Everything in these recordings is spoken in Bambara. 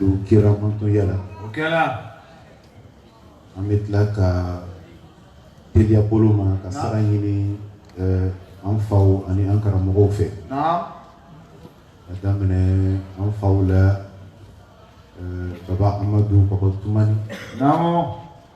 don kira mantonya la o kɛra an bɛ tila ka teliya bolo ma ka sara ɲini eh, an faw ani an karamɔgɔw fɛ k'a daminɛ an faw la eh, baba amadu baba tumani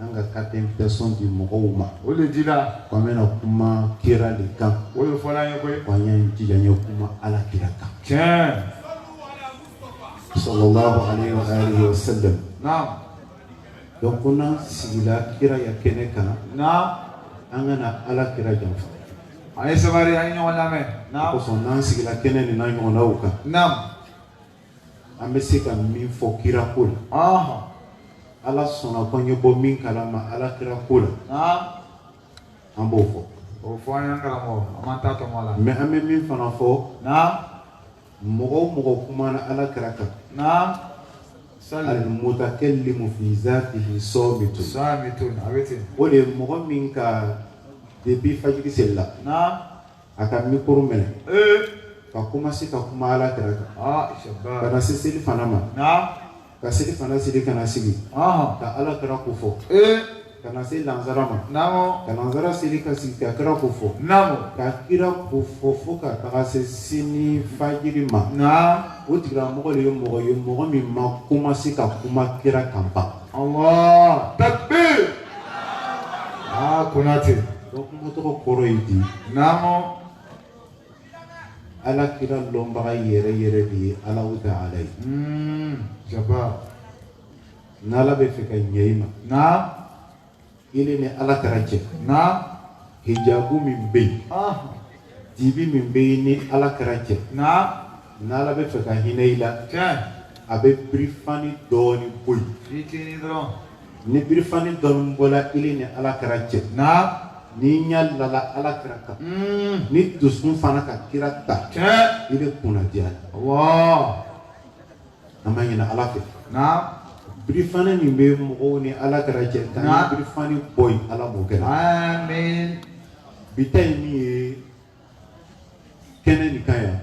an ka carte d'invitation di mɔgɔw ma o de dira ko an bɛna kuma kira de kan o de fɔra an ye koyi ko an y'an jija an ye kuma ala kira kan tiɲɛ sallallahu alaihi wa alihi wa sallam naam donc ko n'an sigila kira ya kɛnɛ kan naam an kana ala kira janfa a ye sabari an ye ɲɔgɔn lamɛn naam kosɔn n'an sigila kɛnɛ nin n'a ɲɔgɔnnaw kan naam An bɛ se ka min fɔ kira ko la ala sɔnna ko an ye bɔ min kala ma ala kira ko la an b'o fɔ o fɔ an la mais an bɛ min fana fɔ mɔgɔ o mɔgɔ kumana ala kira kan mutakallimu fi zatihi samitu samitun o de mɔgɔ min ka depuis fajiri seli la a ka mikoro minɛ ka komasi ka kuma ala kira kan ah, ka na se selifana ma ka selifana seli ka na sigi ka ala kira ko fɔ ka na se lansara ma ka lansara seli ka sigi ka kira ko fɔ ka kira ko fɔ fo ka taga se sini fajiri ma o tigilamɔgɔ de ye mɔgɔ ye mɔgɔ min ma komasi ka kuma kira kan ban Allah takbir aa Konate donc kuma tɔgɔ kɔrɔ ye di naamu ala kira lɔnbaga yɛrɛ yɛrɛ de ye Allahu ta'ala ye jaba n'ala bɛ fɛ ka ɲɛ i ma naam Ile ni ala kira cɛ naam hijabu min bɛ yen dibi min bɛ i ni ala kira cɛ naam n'ala bɛ fɛ ka hinɛ i la a bɛ birifani dɔɔnin bɔ yen ni birifani dɔɔnin bɔla i ni ala kira cɛ naam n'i ɲa lala ala kira kan n'i dusu fana ka kira ta i bɛ kunnadiya Allah an b'a ɲini ala fɛ birifani min bɛ mɔgɔw ni ala kira cɛ ka nin birifani bɔ yen ala b'o kɛ bi ta ye min ye kɛnɛ nin kan yan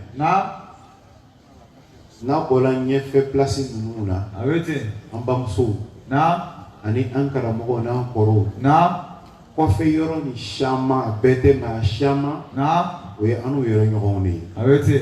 n'a bɔla ɲɛfɛ pilasi ninnu na an bamusow ani an karamɔgɔw n'an kɔrɔw kɔfɛ yɔrɔ nin siaman a bɛɛ tɛ mais a siaman o ye annu yɛrɛ ɲɔgɔnw de ye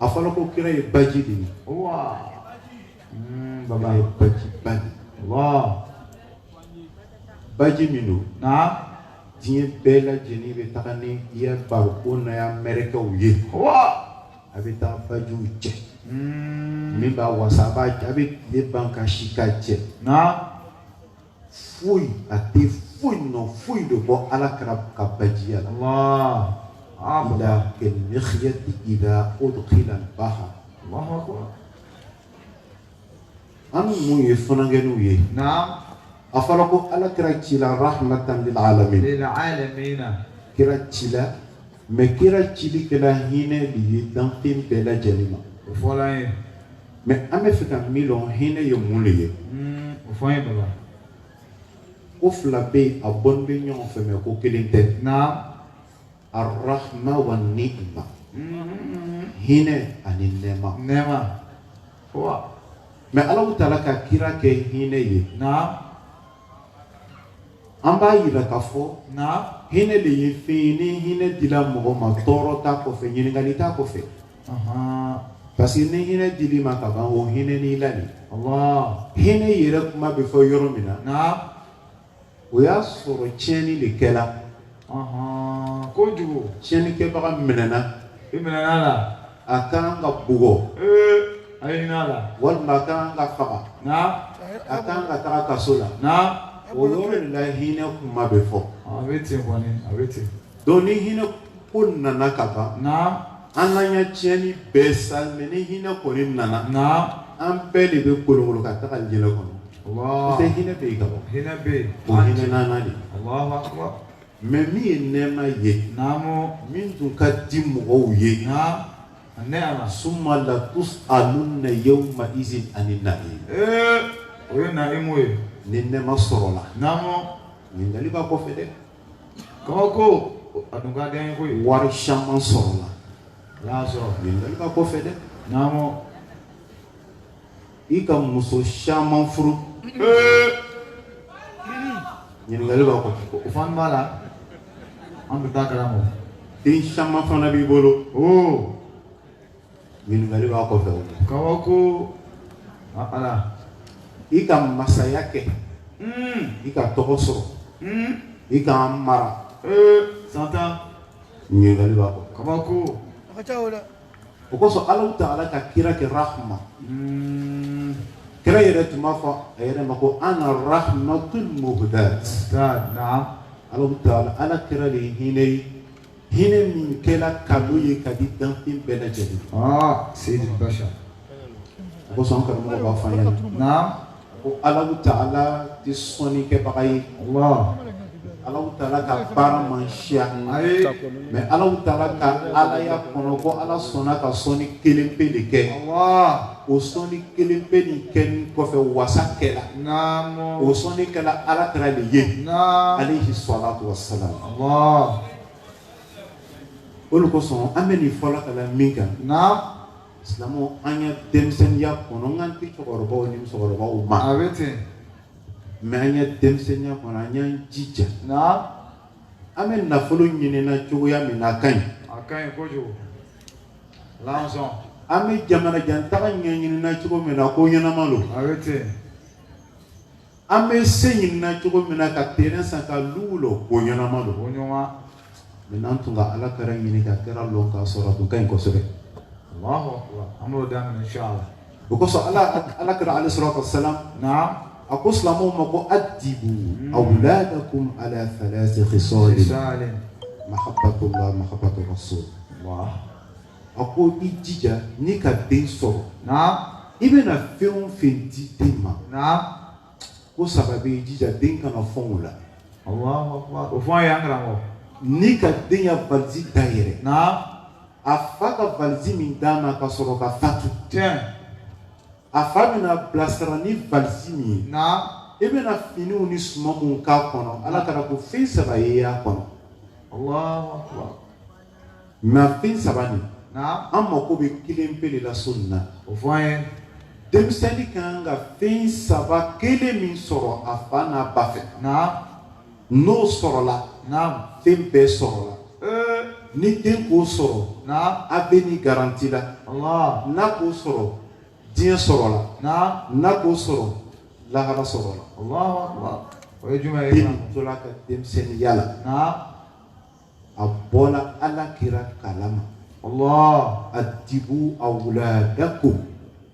a fɔra ko kira ye baji de ye hmm, baba ye baji ba de ye baji min don diɲɛ bɛɛ lajɛlen bɛ taga ni i ya bariko n'a ya mɛrɛkɛw ye a bɛ taa bajiw cɛ hmm. min b'a wasa a b'a a bɛ tile ban ka si k'a cɛ foyi a tɛ foyi nɔ foyi de bɔ ala kira ka bajiya la ila kal mikhyati iza udkhila bahar an bɛ mun ye funankɛniw ye a fɔra ko ala kira cila rahmatan lil alamin kira cila Mais kira cili kɛla hinɛ de ye danfɛn bɛɛ lajɛlen ma o fɔ ye mais an b'a fɛ ka min dɔn hinɛ ye mun de ye hmm, o fɔ ye baba ko fila bɛ yen a bɔlen bɛ ɲɔgɔn fɛ mais ko kelen tɛ naamu arahma wa niima hmm. hinɛ ani nɛma nɛma mais ala taala ka kira kɛ hinɛ ye naamu an b'a yira k'a fɔ hinɛ de ye fɛn ye ni hinɛ dila mɔgɔ ma tɔɔrɔ t'a kɔfɛ ɲininkali t'a kɔfɛ parce que ni hinɛ dil'i ma ka ban o hinɛn'i la de hinɛ yɛrɛ kuma bɛ fɔ yɔrɔ min na o y'a sɔrɔ tiɲɛni de kɛla Ɔnhɔn, kojugu. Tiɲɛnikɛbaga minɛna. I minɛna a la. A ka kan ka bugɔ. Ee a ye hinɛ a la. Walima a ka kan ka faga. Namu. A ka kan ka taa kaso la. Namu. O yɔrɔ de la hinɛ kuma bɛ fɔ. Ɔn a bɛ ten kɔni, a bɛ ten. Donc ni hinɛ ko nana ka ban. Namu. An n'an ya tiɲɛni bɛɛ sa mais ni hinɛ kɔni nana an bɛɛ de bɛ kolon ka taga alijɛnɛ kɔnɔ bɛ hinɛ bɛ yen ka bɔ hinɛ bɛ hinɛ nana de mais min ye nɛma ye min tun ka di mɔgɔw ye ne ala summa la tus'alunna yawma izin ani na'im o ye na ye ni nɛma sɔrɔla ɲininkali b'a kɔfɛ dɛ Kabako a dun ka d'an ye koyi. Wari caman sɔrɔla. Ala y'a sɔrɔ. Ɲininkali b'a kɔfɛ dɛ. Naamu. I ka muso caman furu. Ee. Ɲininkali b'a kɔ. O fana b'a la. An bɛ taa karamɔgɔ. Den caman fana b'i bolo. Oo. Ɲininkali b'a kɔfɛ o la. Kabako ala i ka masaya kɛ hmm. i ka tɔgɔ sɔrɔ hmm. i ka mara san tan ɲininkali b'a kɔfɛ. Kabako o kosɔn ala taala ka kira kɛ rahma hmm. kira yɛrɛ tun b'a fɔ a yɛrɛ ma ko ana rahmatul muhdat ala taala kira de ye hinɛ ye hinɛ min kɛla cadeau ye ka di danfɛn bɛɛ lajɛlen ma sayidul bashar o kosɔn karamɔgɔ b'a fɔ an ɲɛna naam ko alahu taala tɛ sɔnni kɛbaga ye allah alahu taala ka baara man siya ayi mais alahu taala ka alaya kɔnɔ ko ala sɔnna ka sɔnni kelen pe de kɛ allah o sɔnni kelen pe nin kɛnin kɔfɛ wasa kɛla o sɔnni kɛla ala kira de ye alayhi salatu wassalam o le kosɔn an bɛ nin fɔla ka la min kan silamɛw an ya denmisɛnninya kɔnɔ n kan tɛ cɛkɔrɔbaw ni musokɔrɔbaw ma a bɛ ten mais an ya denmisɛnninya kɔnɔ an y'an jija an bɛ nafolo ɲinina cogoya min na a ka ɲi a ka ɲi kojugu an bɛ jamana jan taga ɲɛɲinina cogo min na ko ɲɛnama don, a bɛ ten, an bɛ se ɲinina cogo min na ka terrain san ka luw lɔ ko ɲɛnama don, ko ɲɛnama, mais n'an tun ka Ala kira ɲini ka kira lɔn k'a sɔrɔ a tun ka ɲi kosɛbɛ, Alahu akibaru, an b'o daminɛ in sha Allah o kosɔn ala ala kɛra ale sɔrɔ ka sa a ko silamɛw ma ko a dibu a wula ka ko ala sɔrɔ mato so a ko i jija ni ka den sɔrɔ i bɛna fɛn o fɛn di den ma ko saba bɛ jija den kana fɛnw la o fɔ a y'an karamɔgɔ n'i ka den ya baliji da yɛrɛ a fa ka valisi min d'a ma ka sɔrɔ ka fatu ten a fa bɛn'a bilasira ni valisi min ye naam e bɛna finiw ni suman minnu k'a kɔnɔ ala kira ko fɛn saba ye y'a kɔnɔ allahu akbar mais fɛn saba nin naam an mako bɛ kelen pe de la su nin na o fɔ an ye denmisɛnnin ka kan ka fɛn saba kelen min sɔrɔ a fa n'a ba fɛ naam N'o sɔrɔla fɛn bɛɛ sɔrɔla ni den k'o sɔrɔ a bɛ ni garanti la n'a k'o sɔrɔ diɲɛ sɔrɔla n'a k'o sɔrɔ lahara sɔrɔla o ye juman den tola ka denmisɛnninya la a bɔla ala kira kala ma addibu awladakum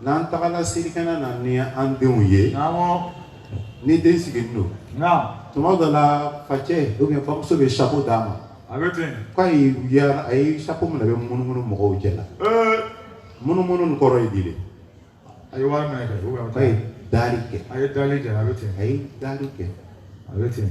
N'an tagala selikɛnɛ na ni an denw ye ni den sigilen don tuma dɔ la facɛ bamuso bɛ chapeau d'a ma k'a ye chapeau mina a bɛ munumunu mɔgɔw cɛ la munumunu nin kɔrɔ ye di de a ye wari daali kɛ a ye daali kɛ a ye daali kɛ a bɛ ten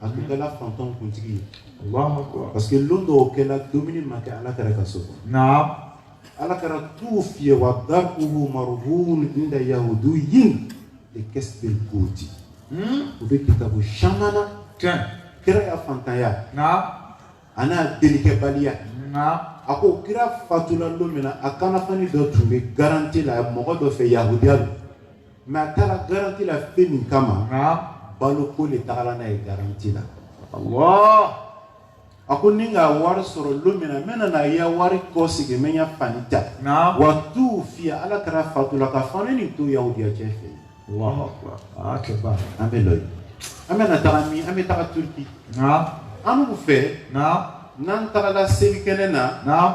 a tun kɛla fantanw kuntigi ye parce que lon dɔw kɛla dumuni ma kɛ ala kira ka so kɔnɔ ala kira tuwufiya wa dar'uhu marhun inda yahudiyyin likasbi al-quti o bɛ kitabu caman na kira ya fantanya ani a ya delikɛbaliya a ko kira fatula lon min na a kanafani dɔ tun bɛ garanti la mɔgɔ dɔ fɛ yahudiya lo Mais a taara garanti la fɛn min kama baloko le tagala n'a ye garanti la a ko ni n ka wari sɔrɔ lon min na n bɛna na i ya wari kɔsegi n bɛ n ya fani ta wa tuwufiya ala kira fatula ka fani nin to yahudiya cɛ fɛ an bɛ lɔ yen an bɛna taa min an bɛ taga turki an b'o fɛ n'an tagala selikɛnɛ na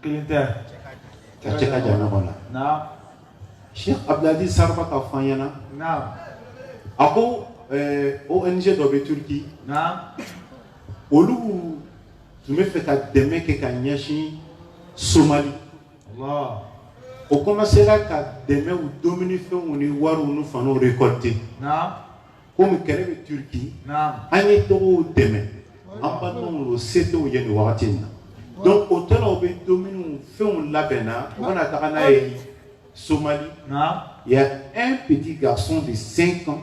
kelen tɛ ka cɛ ka jamana kɔnɔ na Cheikh Abdelaziz Sarba k'a fɔ an ɲɛna naam a ko eh, ONG dɔ bɛ Turquie naam olu tun bɛ fɛ ka dɛmɛ kɛ ka ɲɛsin Somali Allah o commencera ka dɛmɛw dumunifɛnw ni wariw ni faniw récolter naam komi kɛlɛ bɛ turki an ye taga u dɛmɛ an balimaw lo se t'u ye nin wagati in na donc o tora u bɛ domuniw fɛnw labɛnna u bɛna taga n'a ye somali il y a un petit garçon de 5 ans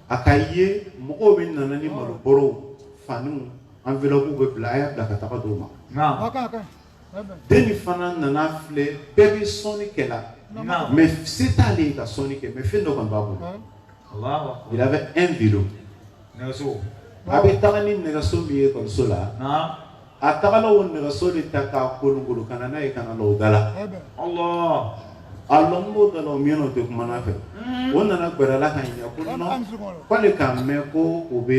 a k'a ye mɔgɔw bɛ nana ni malobɔrɔw faniw enveloppew bɛ bila a y'a bila ka taga d'o ma dennin fana nana filɛ bɛɛ bɛ sɔnni kɛla mais se t'ale ye ka sɔnni kɛ mais fɛn dɔ kɔni b'a bolo il avait un vélo nɛgɛso a bɛ taga ni nɛgɛso min ye ekɔliso la a tagala o nɛgɛso de ta k'a kolonkolon ka na n'a ye ka na lɔ o da la a lɔnin b'o da la o miɲɛna o tɛ kumana a fɛ o nana gɛrɛ a la k'a ɲininka ko non k'ale k'a mɛn ko o bɛ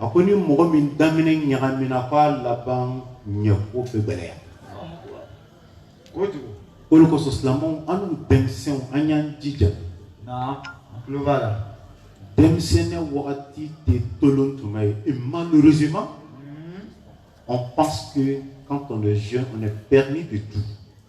a ko ni mɔgɔ min daminɛ ɲagamina k'a laban ɲako bɛ gɛlɛya o le kosɔn silamɛw annu denmisɛnw an y'an jija denmisɛnnin wagati tɛ tolon tuma ye et malheureusement on pense que quand on est jeune on est permis de tout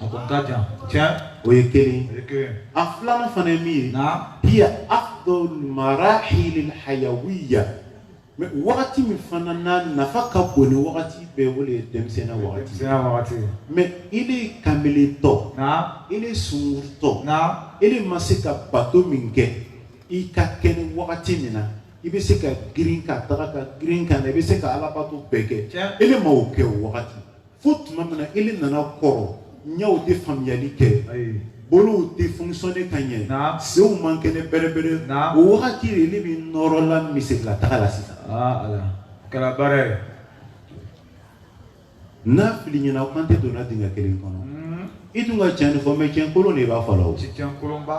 A ko ka jan tiɲɛ o ye kelen a filanan fana ye min ye naam hiya afdalu marahil al-hayawiya mais wagati min fana na nafa ka bon ni wagati bɛɛ o le ye denmisɛnnin wagati mais ile kanbeletɔ ile sungurutɔ ile ma se ka bato min kɛ i ka kɛnɛ wagati min na i bɛ se ka girin ka taga ka girin ka na i bɛ se ka alabato bɛɛ kɛ ile ma o kɛ wagati fo tuma min na ile nana kɔrɔ ɲɛw tɛ faamuyali kɛ bolow tɛ fonctionner ka ɲɛ senw man kɛnɛ bɛrɛbɛrɛ o wagati de ile bɛ nɔrɔla misiri la taga la sisan kɛra baara ye n'a fili ɲɛna ko an tɛ donna dingɛ kelen kɔnɔ i dun ka tiɲɛ de fɔ mais tiɲɛ kolon de b'a fɔ la o tiɲɛ kolonba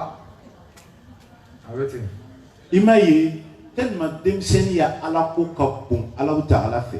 a bɛ ten i m'a ye tellement denmisɛnnin ya alako ka bon alahu taala fɛ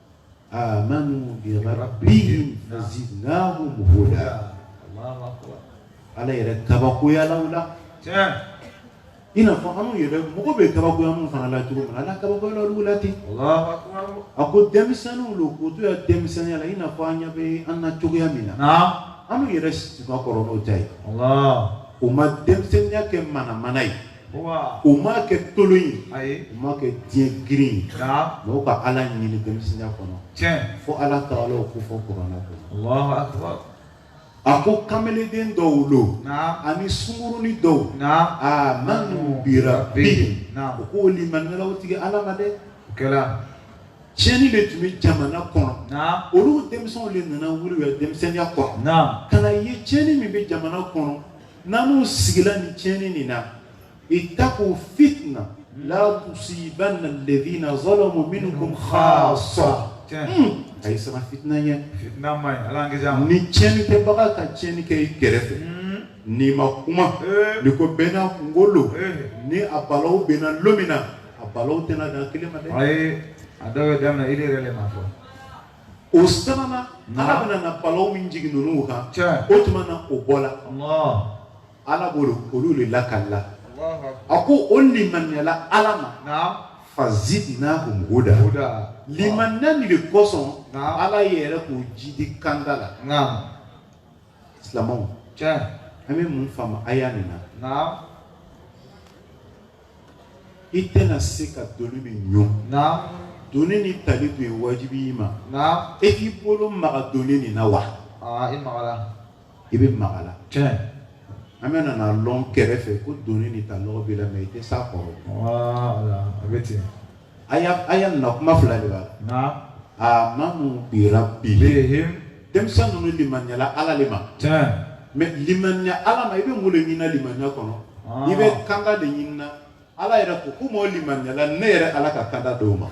amanu bi rabbihim fazidnahum huda ala yɛrɛ kabakoyala u la i n'a fɔ anw yɛrɛ mɔgɔ bɛ kabakoya minnu fana la cogo min na ala kabakoyala olu la ten a ko denmisɛnninw lo k'u to u ya denmisɛnninya la i n'a fɔ an ɲɛ bɛ an na cogoya min na anw yɛrɛ si ka kɔrɔ n'o ta ye u ma denmisɛnninya kɛ manamana ye u m'a kɛ tolon ye u m'a kɛ diɲɛ girin ye mais u ka ala ɲini denmisɛnya kɔnɔ fo ala taala o kofɔ kuranɛ kɔnɔ a ko kamelenden dɔw lo ani sungurunin dɔw amanu bi rabbihim u k'o limaniyala u tigi ala ma dɛ o kɛra tiɲɛni de tun bɛ jamana kɔnɔ olu denmisɛnw de nana wuli u ya denmisɛnya kɔnɔ ka na ye tiɲɛni min bɛ jamana kɔnɔ n'anw sigila ni tiɲɛni nin na ittaqu fitna la tusibanna alladhina zalamu minkum khassa hmm. a ye siran fitina ɲɛ ni tiɲɛni kɛbaga ka tiɲɛni kɛ i kɛrɛfɛ hmm. n'i ma kuma eh. n'i ko bɛɛ n'a kunko lo eh. ni a balaw bɛnna lon min na a balaw tɛna dan kelen ma dɛ a dɔw bɛ daminɛ i yɛrɛ le ma fɔ o sabanan ala bɛna na balaw min jigin ninnu kan o tuma na o bɔla ala b'o olu de lakalila a ko o limaniyala ala ma fazidnahum huda limaniya nin de kosɔn ala yɛrɛ k'o jidi kanda la silamɛw an bɛ mun faamu aya nin na i tɛna se ka doni min ɲun doni nin tali tun ye wajibi ye i ma e k'i bolo maga doni nin na wa i bɛ maga la an bɛna n'a lɔn kɛrɛfɛ ko doni nin ta lɔgɔ b'i la mais i tɛ s'a kɔrɔ a bɛ ten aya nin na kuma fila de b'a la amanu bi rabbihim denmisɛn ninnu limaniyala ala de ma mais limaniya ala ma i bɛ mun de ɲinina limaniya kɔnɔ i bɛ kanda de ɲinina ala yɛrɛ ko komi o limaniyala ne yɛrɛ ala ka kanda d'o ma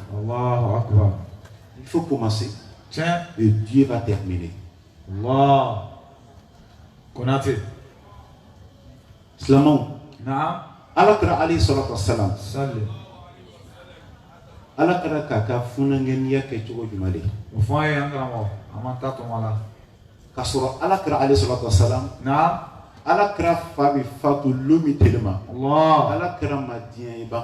il faut commencer et Dieu va terminer Konate silamɛw naam ala kira alayhi salatu wasalam sali ala kira k'a ka funankɛniya kɛ cogo jumɛn de ye o fɔ an ye an karamɔgɔ an m'an ta tɔmɔ la k'a sɔrɔ ala kira alayhi salatu wasalam naam ala kira fa bɛ fatu lon min tele ma allah ala kira ma diɲɛ ye ban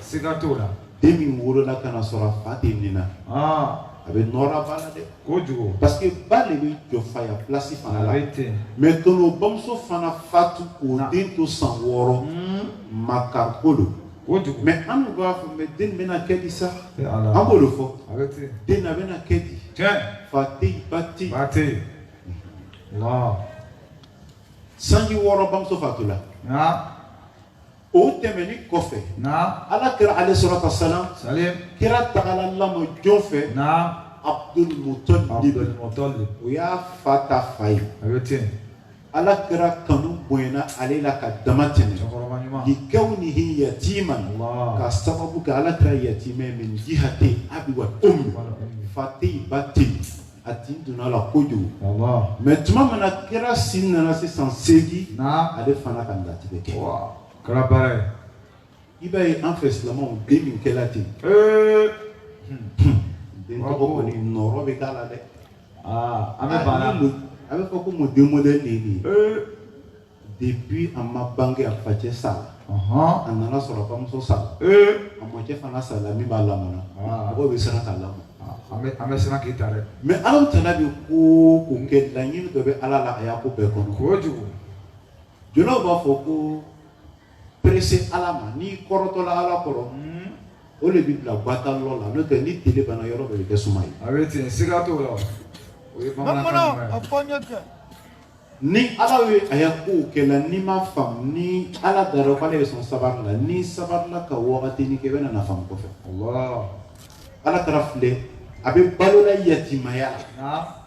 siga t'o la den min wolola ka na sɔrɔ a fa tɛ ni na ah. a bɛ nɔrɔ ba la dɛ kojugu parce que ba de bɛ jɔ faya place fana la mais tɔnɔ bamuso fana fatu k'o den to san wɔɔrɔ hmm. makari ko don kojugu mais an dun b'a fɔ mais den bɛna kɛ di sa an b'o de fɔ den na bɛna kɛ di fa tɛ yen ba tɛ yen ba tɛ yen sanji wɔɔrɔ bamuso fatula ah. o tɛmɛni kɔfɛ naam ala kira alayhi salatu wasalam salim kira tagala lamɔ jɔn fɛ naam abdul mutalib abdul mutalib o y'a fa ta fa ye a bɛ ten ala kira kanu bonyana ale la ka dama tɛmɛ cɛkɔrɔba ɲuman likawnihi yatiman Allah. ka sababu kɛ ala kira yatima ye min jihati abi wa ummi wal ummi. fa tɛ yen ba tɛ yen a tin donn'a la kojugu mais tuma min na kira si nana se san seegin ale fana ka latigɛ kɛ kɛra baara ye i b'a ye an fɛ silamɛw den min kɛla ten den tɔgɔ kɔni nɔrɔ bɛ k'a la dɛ an bɛ baara a bɛ fɔ ko mun den modèle de ye nin ye depuis a ma bange a facɛ sara a nana sɔrɔ a bamuso sara a mɔcɛ fana sara min b'a lamɔna mɔgɔw bɛ siran k'a lamɔ an bɛ siran k'i ta dɛ mais Ala taala bɛ ko o ko kɛ laɲini dɔ bɛ Ala la a ya ko bɛɛ kɔnɔ kojugu julaw b'a fɔ ko pressé Ala ma n'i kɔrɔtɔla Ala kɔrɔ o de b'i bila gbata lɔ la n'o tɛ ni tile banna yɔrɔ bɛɛ bɛ kɛ suma ye a bɛ ten siga t'o la o ye bamanankan ɲuman ye. ni ala ye a ya kow kɛ la n'i ma faamu ni ala dara k'ala y'i sɔn sabari la n'i sabarila ka wagatinin kɛ i bɛna n'a faamu kɔfɛ ala kira filɛ a bɛ balola yatimaya la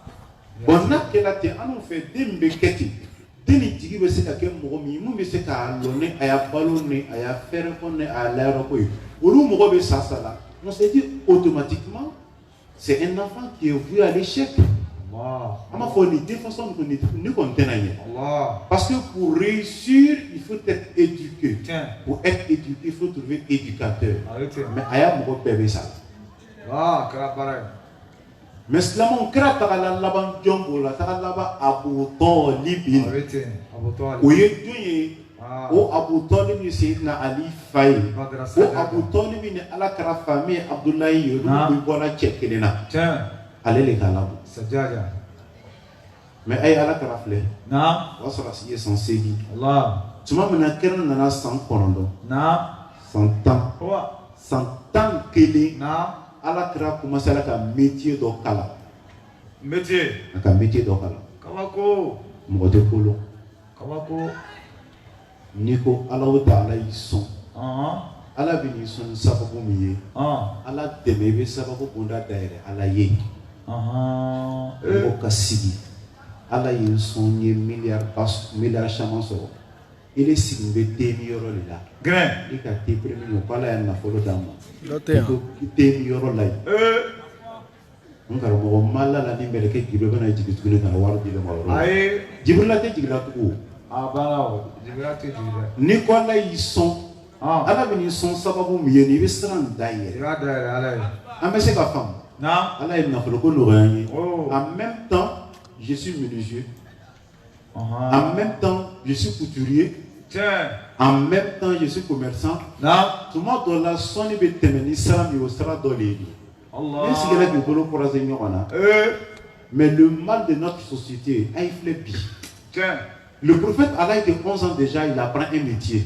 bon n'a kɛla ten an fɛ den bɛ kɛ ten den ni jigi bɛ se ka kɛ mɔgɔ min minnu bɛ se ka lɔ ni a ya balo ni a ya fɛɛrɛ ko ni a ya layɔrɔ ko ye olu mɔgɔ bɛɛ sasala on se dit automatiquement C'est un enfant qui est voué à l'échec. An b'a fɔ nin den façon nin kɔni tɛna ɲɛ. Parce que pour réussir il faut être éduqué. Tiɲɛ. Pour être éduqué il faut trouver éducateur. A bɛ ten. Mais a ya mɔgɔ bɛɛ bɛ sa. Aa a kɛra baara ye. Mais silamɛw kira tagala laban jɔn bolo a tagala laban Abu Talibi. A bɛ ten Abu Talibi. O ye jɔn ye. Ah. o abu tɔlibi seyidina ali fa ye Badara o Sadiya. abu tɔlibi ni ala kira fa min ye abudulayi ye olu Naam. bɛɛ bɔra cɛ kelen na Tiɲɛ. ale de k'a lamɔ Sajaja. mais a ye ala kira filɛ Na. o y'a sɔrɔ a si ye san seegin Allah. tuma min na kira nana san kɔnɔntɔn Na. san tan Wa. san tan kelen Na. ala kira kɔmansela ka metiye dɔ kalan Métier. a ka metiye dɔ kalan Kabako. mɔgɔ tɛ kolon kabako n'i ko alahu taala y'i sɔn ala bɛn'i sɔn ni sababu min ye ala dɛmɛ i bɛ sababu bonda dayɛlɛ ala ye mɔgɔ ka sigi ala ye n sɔn n ye miliyariba miliyari caman sɔrɔ ile sigilen bɛ te min yɔrɔ de la i ka te premier min ko ala ye nafolo d'an ma i ko te min yɔrɔ la yen n karamɔgɔ n ma la a la ni mɛlɛkɛ jibirila bɛna jigin tuguni ka na wari di ne ma yɔrɔ la ayi jibirila tɛ jigila tugun abada o jibirila tɛ jigin dɛ n'i ko ala y'i sɔn ɔn ala bɛn'i sɔn sababu min ye nin i bɛ sira dayɛlɛ i b'a dayɛlɛ ala ye an bɛ se ka faamu na ala ye nafolo ko nɔgɔya n ye Oh. en même temps je suis menuisier En même temps, je suis couturier. En même temps, je suis commerçant. Tuma dɔ la sɔnni bɛ tɛmɛ ni sira min ye o sira dɔ de ye nin ye. Ile sigila k'i bolo croiser ɲɔgɔn na. Mais le mal de notre société, a y'a filɛ bi. Le prophète à l'âge de 11 ans déjà, il apprend un métier.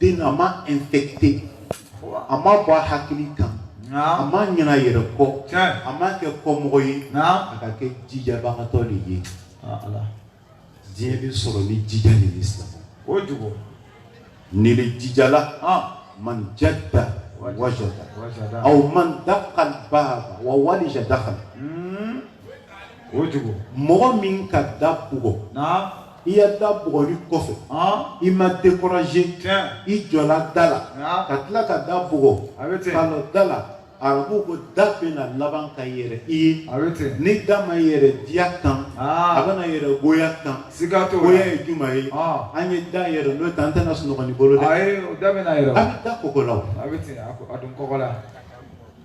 Den a ma infecté a ma bɔ a hakili kan, a ma ɲinɛ a yɛrɛ kɔ, a ma kɛ kɔmɔgɔ ye, a ka kɛ jijabagatɔ de ye, aa Ala, diɲɛ bɛ sɔrɔ ni jija de ye, kojugu, n'ile jijala o jugu mɔgɔ min ka da bugɔ na i ya da bugɔli kɔfɛ i ma découragé i jɔla da la ka tila ka da bugɔ a bɛ ten ka lɔ da la arabuw ko da bɛna laban ka yɛlɛ i ye a bɛ ten ni da ma yɛlɛ diya tan a bɛna yɛlɛ goya tan siga t'o la goya ye jumɛn ye a ye da yɛlɛ n'o tɛ an tɛna sunɔgɔ ni bolo dɛ ayi o da bɛna yɛlɛ a bɛ da kɔnkɔn la o a bɛ ten a da kɔnkɔn la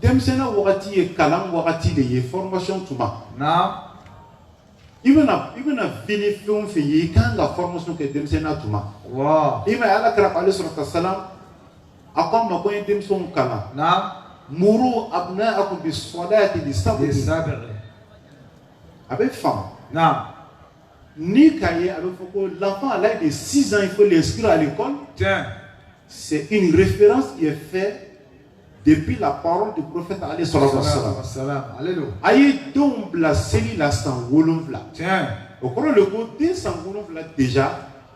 denmisɛnya wagati ye kalan wagati de ye formation tuma i bɛna i bɛna fini fɛn o fɛn ye i kan ka formation kɛ denmisɛnya tuma i m'a ye Ala kira alayhi salatu wa salam a ko an ma ko an ye denmisɛnw kalan muru abnaakum bis-salati li sab'i a bɛ faamu. Ni ka ye a bɛ fɔ ko lafa ala de sisan fo de su ale kɔn se i ni fɛn fɛ de bi la hɔrɔn de kɔfɛ ale sɔrɔ sara a ye denw bila seli la san wolonwula o kɔrɔ de ko den san wolonwula dez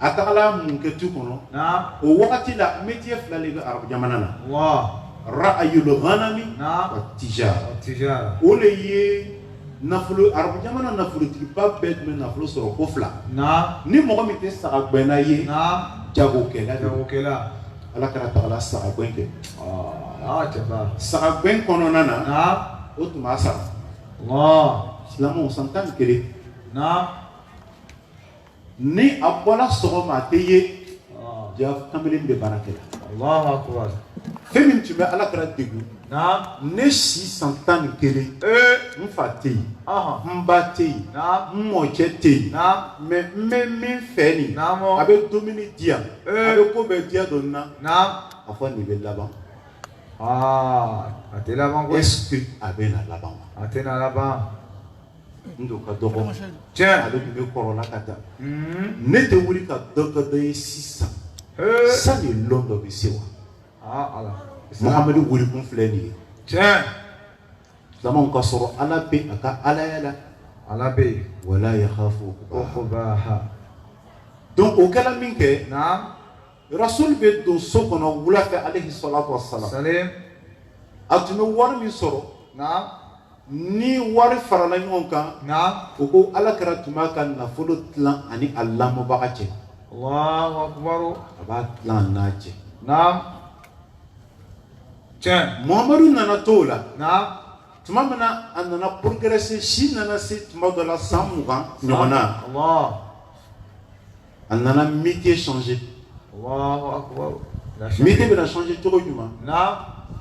a taara mun kɛ tu kɔnɔ o wagati la métier fila de bɛ arabu jamana na raayul ganami wa tijara o de ye nafolo arabu jamana nafolotigiba bɛɛ tun bɛ nafolo sɔrɔ ko fila ni mɔgɔ min tɛ sagagɛnna ye jagokɛla alakira tagala saga gɛn kɛ saga gɛn kɔnɔna na o tun b'a sara silamɛ san tan ni kelen ni a bɔra sɔgɔma a tɛ ye jaa kamalen bɛ baara kɛ la fɛn min tun bɛ alakira degun ne si san tan ni kelen n fa tɛ yen n ba tɛ yen n mɔcɛ tɛ yen mais n bɛ min fɛ nin a bɛ dumuni di yan a bɛ ko bɛɛ di yan dɔ na a fɔ nin bɛ laban est-ce que a bɛ na laban a tɛ na laban N dun ka dɔgɔ ale tun bɛ kɔrɔ la ka taa ne tɛ wuli ka dɔ kɛ dɔ ye sisan sanni don dɔ bɛ se wa Muhamadu wulikun filɛ nin ye tiɲɛ jama ka sɔrɔ ala bɛ a ka alaya la ala bɛ yen wala yakhafu donc o kɛra minkɛ Rasul bɛ don so kɔnɔ wula fɛ aleyihi salatu wa salam, salee, a tun bɛ wari min sɔrɔ, naamu, ni wari farala ɲɔgɔn kan, naamu, u ko alakira tun b'a ka nafolo tilan a ni a lamɔbaga cɛ, Alahu akibaru, a b'a tilan a n'a cɛ, naamu, tiɲɛ, Mamadu nana to o la, naamu, tuma min na a nana progresser si nana se tuma dɔ la san mugan ɲɔgɔn na, Alahu. a nana métier changer Alahu akibaru métier bɛna changer cogo jumɛn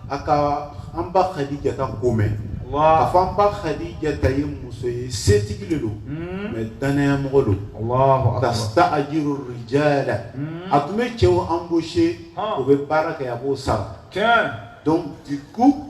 a ka an ba kadijata ko mɛn k'a fɔ an ba kadijata ye muso ye setigi de don hmm. mais danayamɔgɔ don tastaajiru rijala hmm. a tun bɛ cɛw embaucher o bɛ baara kɛ a ye a b'o sara donc du coup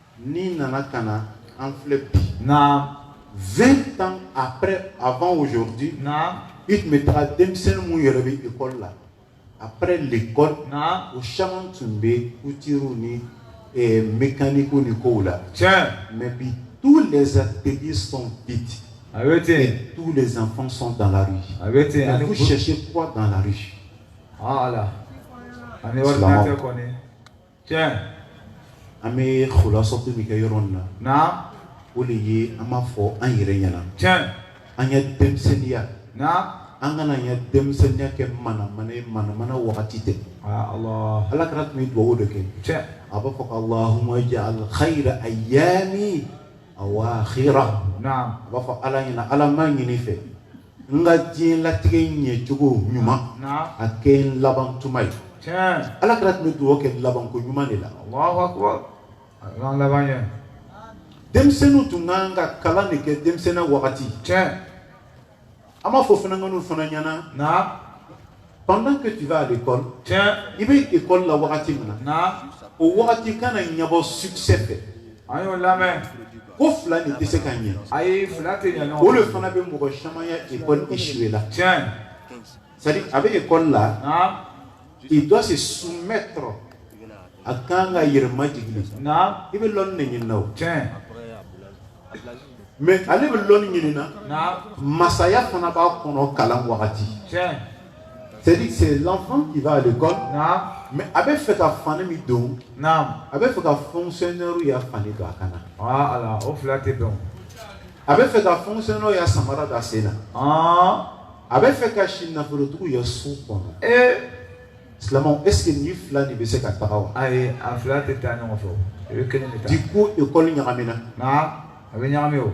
N'i nana ka na an filɛ bi. Naamu. 20 ans après avant aujourd'hui . Naamu. I tun bɛ taa denmisɛnnin minnu yɛrɛ bɛ école la après l'école . Naamu. U caman tun bɛ couture ni ɛɛ mecanique ni kow la. Tiɲɛ! Mais bi tous les ateliers sont vides . A bɛ ten. Et tous les enfants sont dans la rue . A bɛ ten. Mais vous cherchez quoi dans la rue? Haa Ala! Ani ordinateur kɔnni. tiɲɛ an bɛ khulasɔtu min kɛ yɔrɔ in na naam o de ye an b'a fɔ an yɛrɛ ɲɛna tiɲɛ an ka denmisɛnninya naam an kana an ka denmisɛnninya kɛ manamana ye manamana wagati tɛ aa Allah ala kira tun bɛ dugawu de kɛ tiɲɛ a b'a fɔ ko allahumma ja'al khayra ayyami awakhira naam a b'a fɔ ala ɲɛna ala n b'a ɲini i fɛ N ka diɲɛlatigɛ ɲɛ cogo ɲuman, naamu, a kɛ n laban tuma ye, tiɲɛ, Ala kira tun bɛ dugawu kɛ laban ko ɲuman de la, Alahu akibaru, Ala k'an laban ɲɛ, denmisɛnninw tun ka kan ka kalan de kɛ denmisɛnninya wagati, tiɲɛ, an b'a fɔ funankɛninw fana ɲɛna, naamu Pendant que tu vas à l'école tiɲɛ, i bɛ école la wagati min na, naamu, o wagati kana ɲɛbɔ succès fɛ, a y'o lamɛn, ko fila nin tɛ se ka ɲɛ, ayi fila tɛ ɲɛ ɲɔgɔn kɔrɔ, o de fana bɛ mɔgɔ caman ya école échouer la, tiɲɛ, c'est à dire a bɛ école la, naamu, il doit se soumettre a ka kan ka yɛrɛ majigin de, naamu, i bɛ lɔnni de ɲini na o, tiɲɛ. Mais ale bɛ lɔnni ɲini na masaya fana b'a kɔnɔ kalan wagati c'est à dire c'est l'enfant qui va à l'école mais a bɛ fɛ ka fani min don a bɛ fɛ ka fonctionnaire ya fani don a kan na o fila tɛ dɔn a bɛ fɛ ka fonctionnaire ya samara don a sen na a bɛ fɛ ka si nafolotigiw ya so kɔnɔ Silamɛw est ce que nin fila de bɛ se ka taga wa? Ayi a fila tɛ taa ɲɔgɔn fɛ o, o ye kelen de ta ye. Du coup école ɲagamina. Naam a bɛ ɲagami o.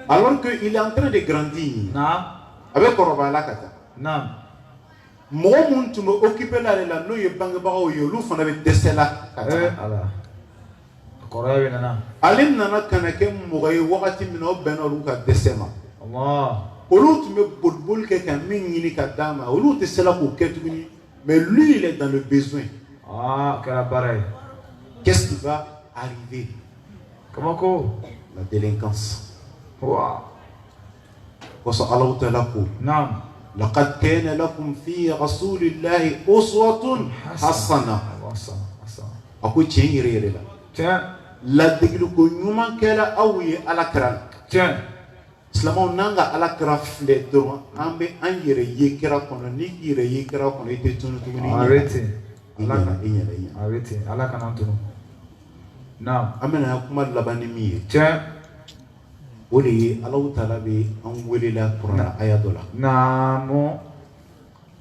Alors que il est en train de grandir. Naam. A bɛ kɔrɔbaya la ka taa. Naam. Mɔgɔ minnu tun bɛ occuper la ale la n'o ye bangebagaw ye olu fana bɛ dɛsɛ la ka taa. Ee Ala. kɔrɔya nana ale nana ka na kɛ mɔgɔ ye wagati min o bɛnna olu ka dɛsɛ ma Ala olu tun bɛ bolioli kɛ ka min ɲini ka d'a ma olu tɛ se la k'o kɛ tuguni mais lui il est dans le besoin a kɛra baara ye qu'est ce qui va arriver kabako la délinquance parce que Allahu taala ko naam laqad kana lakum fi rasulillahi uswatun hasana a ko tiɲɛ yɛrɛ yɛrɛ la tiɲɛ ladegeli ko ɲuman kɛra aw ye ala kira la tiɲɛ silamɛw n'an ka ala kira filɛ dɔrɔn an bɛ an yɛrɛ ye kira kɔnɔ n'i y'i yɛrɛ ye kira kɔnɔ i tɛ tunu tuguni a bɛ ten ee a bɛ ten ala kan'an tunu naam an bɛna kuma laban ni min ye tiɲɛ o de ye Ala taala bɛ an wele la kurana aya dɔ la, naamu,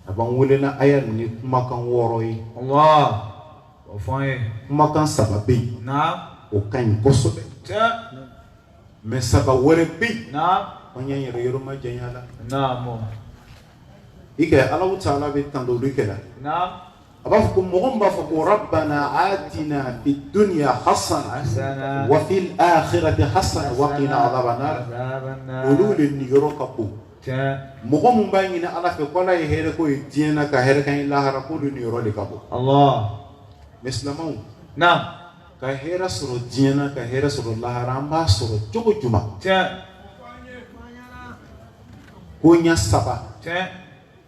a b'an wele la aya ni kumakan wɔɔrɔ ye, Allah, o fɔ an ye, kumakan saba bɛ yen, naamu, o ka ɲi kosɛbɛ, tiɲɛ, mais saba wɛrɛ bɛ yen, naamu, an y'an yɛrɛ yɔrɔ majanya a la, naamu, i ko Ala taala bɛ tandoli kɛ la, naamu a b'a fɔ ko mɔgɔ min b'a fɔ ko rabbana atina fid dunya hasana Hasana. wa fil akhirati hasana wa qina adhaban nar Azaban nar. olu le niyɔrɔ ka bon Tiɲɛ. mɔgɔ min b'a ɲini ala fɛ ko ala ye hɛrɛ k'o ye diɲɛ na ka hɛrɛ k'an ye lahara ko olu niyɔrɔ le ka bon Allah. mais silamɛw Naam. ka hɛrɛ sɔrɔ diɲɛ na ka hɛrɛ sɔrɔ lahara an b'a sɔrɔ cogo jumɛn Tiɲɛ. koɲɛ saba Tiɲɛ.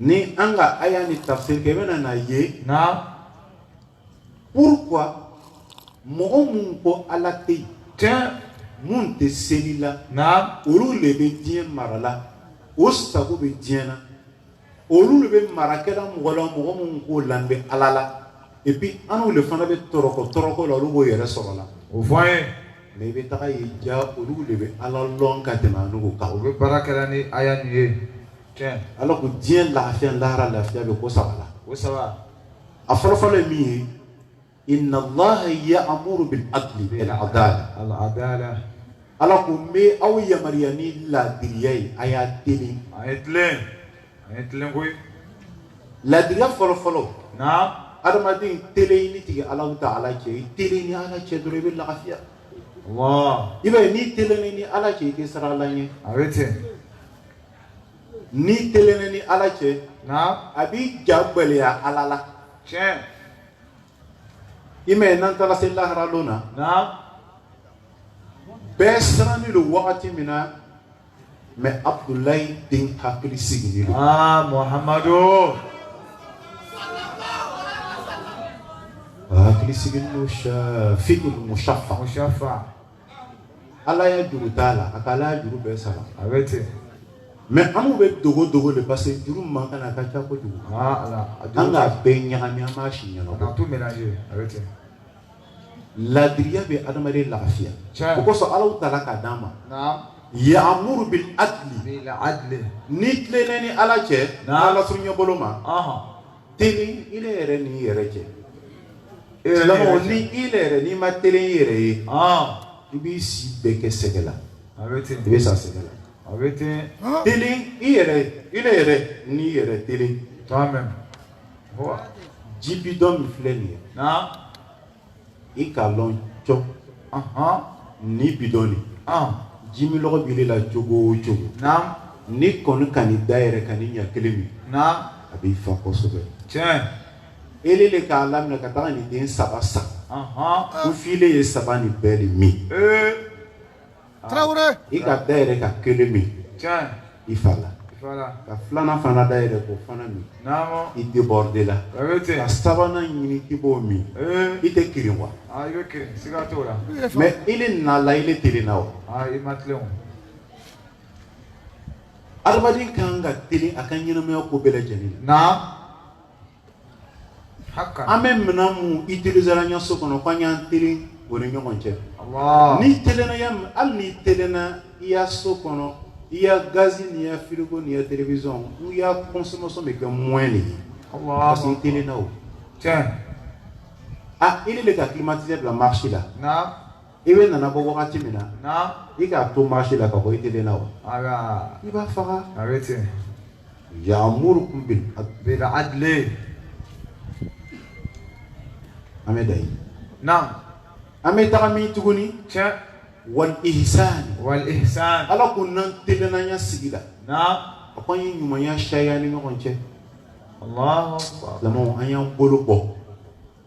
Ni an ka aya nin tafsiri kɛ i bɛna n'a ye Naam pourquoi mɔgɔ minnu ko ala tɛ yen minnu tɛ seli la Naam olu le bɛ diɲɛ mara la o sago bɛ diɲɛ na olu le bɛ mara kɛla mɔgɔ la mɔgɔ minnu k'o lanin b'ala la et puis anu le fana bɛ tɔrɔkɔ tɔrɔkɔ la olu b'o yɛrɛ sɔrɔ la o fɔ an ye Mais i bɛ taga a ye ja olu le bɛ ala lɔn ka tɛmɛ anu kan o bɛ baara kɛla ni aya nin ye ala ko diɲɛ lafiya lahara lafiya bɛ ko saba la o saba a fɔlɔfɔlɔ ye min ye inna allaha ya'muru bil adli al adala ala ko n bɛ aw yamaruya ni laadiriya ye a ye telen a ye A ye telen koyi laadiriya fɔlɔ fɔlɔ adamaden telen i n'i tigi alahu taala cɛ i telen i ni ala cɛ dɔrɔn i bɛ lafiya i b'a ye n'i telennen i ni ala cɛ i tɛ siran ala ɲɛ a bɛ ten n'i telennen i ni ala cɛ a b'i ja gbɛlɛya ala la tiɲɛ i m'a ye n'an taara se lahara don na bɛɛ sirannen don wagati min na mais abudulayi den hakili sigilen don. aa ah, muhamadu. hakili sigilen don shafi'ul mushaffa. mushaffa. ala ya juru t'a la a ka ala ya juru bɛɛ sara. a bɛ ten. mais anu bɛ dogo dogo le parce que juru min b'an kan a ka ca kojugu. aa ah, ala an k'a bɛɛ ɲagami an m'a si ɲɛnabɔ. a ka tout mélangé a bɛ ten. laadiriya bɛ adamaden lafiya o kosɔn ala taala k'a d'an ma ya'muru bil adli n'i tilennen i ni ala cɛ ala surunya bolo ma telen i le yɛrɛ n'i yɛrɛ cɛ ni i le yɛrɛ n'i ma telen i yɛrɛ ye i b'i si bɛɛ kɛ sɛgɛ la i bɛ sa sɛgɛ la telen i yɛrɛ i le yɛrɛ n'i yɛrɛ telen ji bidɔn min filɛ nin ye i k'a lɔn cɔ ni bidɔn nin jiminlɔgɔ b'i la cogo o cogo n'i kɔni ka nin da yɛrɛ ka nin ɲɛ kelen min a b'i fa kosɛbɛ tiɲɛ ele le k'a laminɛ ka taga nin den saba san k'o filɛ ye saba nin bɛɛ le min tarawele i ka dayɛrɛ ka kelen min i fa la ka filanan fana dayɛrɛ k'o fana min i débordé la ka sabanan ɲini k'i b'o min i tɛ kirin wa mɛ ile nala ile telenna wa adamaden kan ka telen a ka ɲɛnamaya ko bɛɛ lajɛlen na an bɛ minɛn minnu utiliser la an ka so kɔnɔ k'an y'an telen o ni ɲɔgɔn cɛ, Alahu, n'i telenna ya min hali n'i telenna i ya so kɔnɔ i ya gaz n'i ya frigo n'i ya télévision i ya consommation bɛ kɛ moins de ye, Alahu akibaru, parce que i telenna o, tiɲɛ, aa ile le ka climatiseur bila marche la, naamu i bɛ nana bɔ wagati min na i k'a to marche la ka bɔ i telenna wa i b'a faga a bɛ ten yamurukum bil adli an bɛ dan yen naam an bɛ taga min tuguni tiɲɛ wal ihsan wal ihsan ala ko n'an telenna an ya sigi la na a ko an ye ɲumanya sari an ni ɲɔgɔn cɛ Allahu akbar silamɛw an y'an bolo bɔ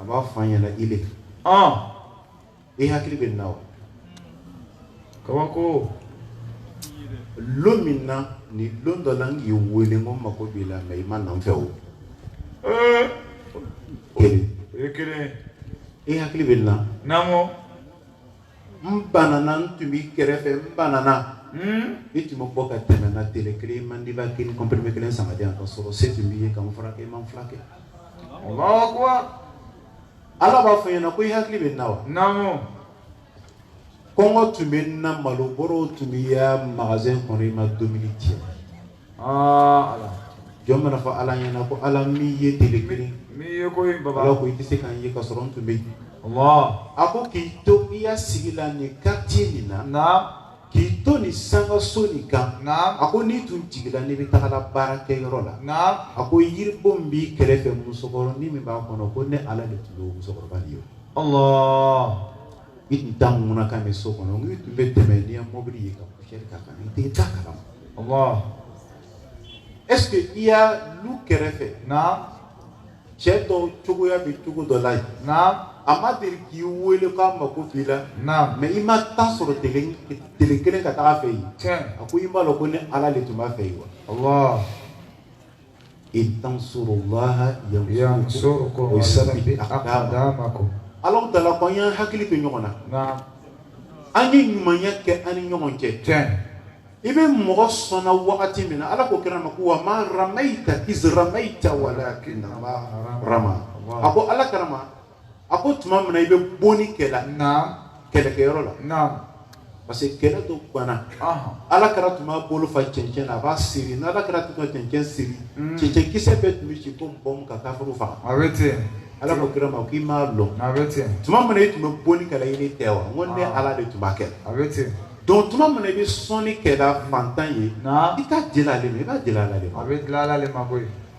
a b'a fɔ i ɲɛna ile i hakili bɛ n na kabako lon min na ni lon dɔ la n k'i weele ko n mako b'i la mɛ i ma na n fɛ o kelen i hakili bɛ n na n banana n tun b'i kɛrɛfɛ n banana hmm? i tun bɛ bɔ ka tɛmɛ n na tele kelen i man di b'a kelen comprimé kelen san k'a di yan ka sɔrɔ se tun b'i ye ka n furakɛ i ma n filakɛ ala b'a fɔ i ɲɛna ko i hakili bɛ n na wa kɔngɔ tun bɛ n na malo bɔrɔw tun b'i ya magazɛn kɔnɔ i ma dumuni di n ma Jɔn bɛna fɔ ala ɲɛna ko ala n m'i ye tile kelen m'i ye ko i tɛ se ka n ye ka sɔrɔ n tun bɛ yen a ko k'i to i ya sigi la nin quartier nin na k'i to nin sankaso nin kan a ko n'i tun jigin la n'i bɛ taga la baarakɛyɔrɔ la a ko yiribon min b'i kɛrɛfɛ musokɔrɔnin min b'a kɔnɔ ko ne ala de tun bɛ musokɔrɔba nin ye I tun taa mun quand même so kɔnɔ i tun bɛ tɛmɛ n'i ya mɔbili ye ka poussière k'a kan i t'a kala ma est-ce que i ya lu kɛrɛfɛ na cɛ dɔ cogoya bɛ cogo dɔ la na a ma deli k'i weele k'a mako b'i la na mɛ i ma temps sɔrɔ tele kelen ka taa a fɛ yen a ko i m'a lɔn ko ne ala de tun b'a fɛ yen wa Ala taala ko an y'an hakili to ɲɔgɔn na an ye ɲumanya kɛ an ni ɲɔgɔn cɛ i bɛ mɔgɔ sɔn na wagati min na ala ko kira ma ko wa ma ramaita iz ramaita walakin Allaha rama a ko ala kɛra a ko tuma min na i bɛ bonni kɛ la kɛlɛkɛyɔrɔ la parce que kɛlɛ dɔ ganna ala kira tun b'a bolo fa cɛncɛn na a b'a seri ni ala kira tun ka cɛncɛn seri mm. cɛncɛn kisɛ bɛɛ tun bɛ ci ko bɔn ka kafuru faga ala ko kira ma k'i m'a lɔn tuma min na i tun bɛ bonni kɛ la ile tɛ wa n ko ne ala de tun b'a kɛ la donc tuma min na i bɛ sɔnni kɛ la fantan ye i t'a di la ale ma i b'a di la ala le ma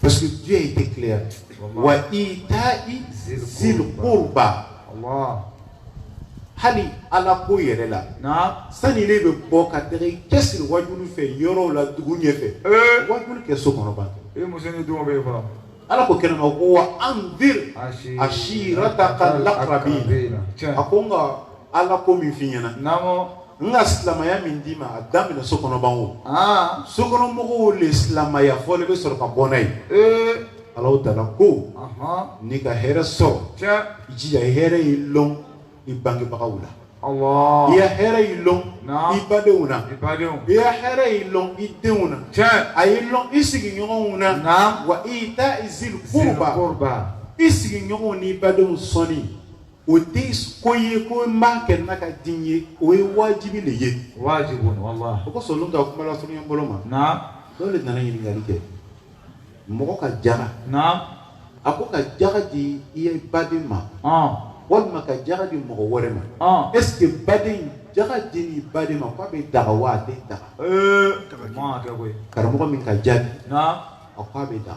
Parce que Dieu était clair. Wa ita'i zil qurba. Allah. Hali ala ko yɛrɛ la naam sani ile bɛ bɔ ka taga i cɛsiri wajulu fɛ yɔrɔw la dugu ɲɛfɛ ee wajulu kɛ so kɔnɔ ban kɛ e muso ni denw bɛ yen fɔlɔ ala ko kira ma ko wa anzir ashirataka lakrabin tiɲɛ a ko n ka ala ko min f'i ɲɛna naamɔ n ka silamaya min d'i ma a daminɛ so kɔnɔ ban o ah. sokɔnɔmɔgɔw le silamaya fɔlɔ i bɛ sɔrɔ ka bɔ n'a ye eh. alahu taala ko n'i ka hɛrɛ sɔrɔ i jija hɛrɛ y'i lɔn i bangebagaw la i ya hɛrɛ y'i lɔn i badenw na i ya hɛrɛ y'i lɔn i denw na a y'i lɔn i sigiɲɔgɔnw na wa ita'i zil kurba i sigiɲɔgɔnw n'i badenw sɔnni o tɛ ko ye ko n b'a kɛ n'a ka di n ye o ye wajibi de ye wajibu wallah o kosɔn olu ka kuma lasurunya bolo ma naam dɔw de nana ɲininkali kɛ mɔgɔ ka jaga na a ko ka jaga di i ye baden ma walima ka jaga di mɔgɔ wɛrɛ ma est-ce que baden jaga di ni baden ma k'a bɛ daga wa a tɛ daga karamɔgɔ min ka jaabi a k'a bɛ da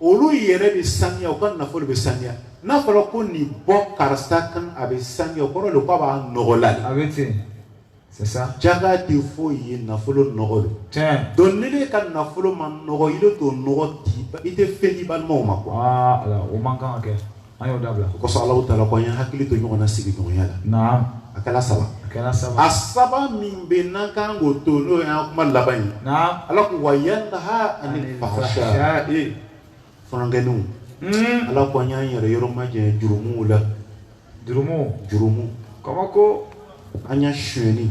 olu yɛrɛ bɛ saniya u ka nafolo bɛ saniya n'a fɔra ko nin bɔ karisa kan a bɛ saniya o kɔrɔ de k'a b'a nɔgɔla de. a bɛ ten c'est ça. jaga tɛ foyi ye nafolo nɔgɔ de. tiɲɛ. donc n'ile ka nafolo ma nɔgɔ ile t'o nɔgɔ di i tɛ fɛn di balimaw ma quoi. aa ala o man kan ka kɛ. an y'o dabila o kosɔn alahu taala ko an ye hakili to ɲɔgɔn na sigiɲɔgɔnya la naam a kɛra saba a kɛra saba a saba min bɛ yen n'an kan k'o to n'o y'an kuma laban ye naam ala ko wa yanha anil fahsha fahsha'i fɔnɔnkɛninw mm. ala ko an y'an yɛrɛ yɔrɔ majɛ jurumuw la jurumu jurumu kabako an y'a suyɛni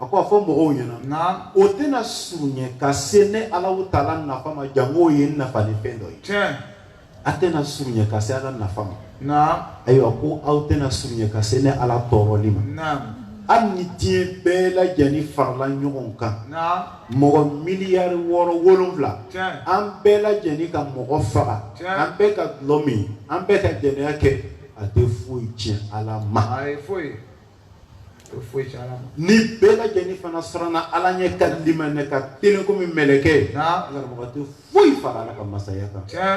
a ko a fɔ mɔgɔw ɲɛna naam o tɛna surunya ka se ne alahu taala nafa ma jango o ye n nafa ni fɛn dɔ ye tiɲɛ a tɛna surunya ka se ala nafa ma naam ayiwa ko aw tɛna surunya ka se ne ala tɔɔrɔli ma naam hali ni diɲɛ bɛɛ lajɛlen farala ɲɔgɔn kan naam mɔgɔ miliyari wɔɔrɔ wolonwula tiɲɛ an bɛɛ lajɛlen ka mɔgɔ faga Tiɲɛ. an bɛɛ ka dulɔ min an bɛɛ ka jɛnɛya kɛ a tɛ foyi tiɲɛ ala ma a tɛ foyi o foyi tɛ ala ma ni bɛɛ lajɛlen fana siranna ala ɲɛ ka limaniya ka telen komi mɛlɛkɛ naamu karamɔgɔ o tɛ foyi fara ala ka masaya kan tiɲɛ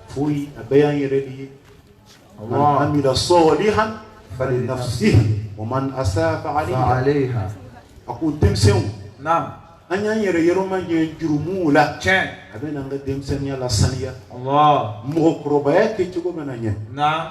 foyi a bɛɛ y'an yɛrɛ de ye man amila sɔlihan falinafsihi wa man asaa fa alayha aleha a ko denmisɛnw naamu an y'an yɛrɛ yɔrɔ majan jurumuw la tiɲɛ a bɛn'an ka denmisɛnniya lasaniya Allah mɔgɔkɔrɔbaya kɛ cogo bɛna ɲɛ naamu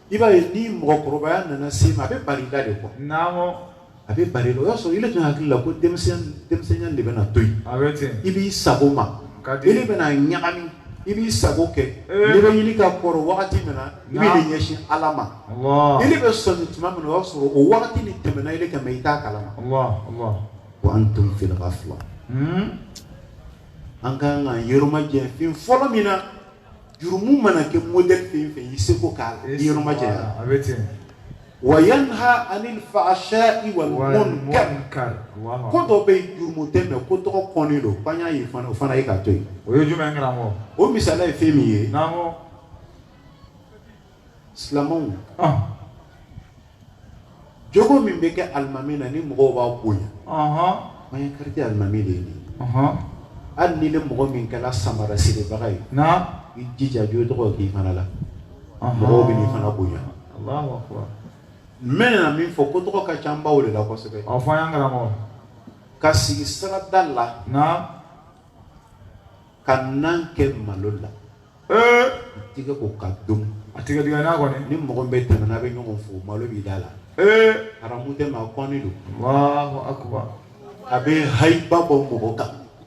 I b'a ye ni mɔgɔkɔrɔbaya nana se i ma a bɛ bali da de koyi a bɛ bali o y'a sɔrɔ ile tun hakili la ko denmisɛnya de bɛna to yen i b'i sago ma ile bɛna ɲagami i b'i sago kɛ ile bɛ ɲini ka kɔrɔ wagati min na i b'i ɲɛsin ala ma i bɛ sɔmi tuma min o y'a sɔrɔ o wagati nin tɛmɛna ile kan i t'a kalama wa antum fi gafila an ka kan k'an yɔrɔ majan fɛn fɔlɔ min na jurumu mana kɛ modèle fɛn o fɛn i seko k'a la i yɔrɔ majanya, a bɛ ten, wa yanha anil fahsai wal munkar ko dɔ bɛ yen jurumu tɛ mais ko tɔgɔ kɔnnen don k'an y'a ye fana o fana ye ka to yen, o ye jumɛn ye karamɔgɔ? o misaliya ye fɛn min ye, naamu, silamɛw, ɔn jogo min bɛ kɛ alimami na ni mɔgɔw b'a bonya an ya kariti alimami de ye nin hali ni ile mɔgɔ min kɛra samara siribaga ye i jija jogo dɔ k'i fana la mɔgɔw bɛn'i fana bonya n bɛna min fɔ ko tɔgɔ ka ca baw de la kosɛbɛ ka sigi sirada la ka nan kɛ malo la ee tigɛ ko k'a dun a tigɛ tigɛ n'a kɔni ni mɔgɔ bɛ tɛmɛ n'a bɛ ɲɔgɔn fo malo b'i da la ee haramu tɛ mais a kɔnnen don Allahu Akbar a bɛ hayiba bɔ mɔgɔ kan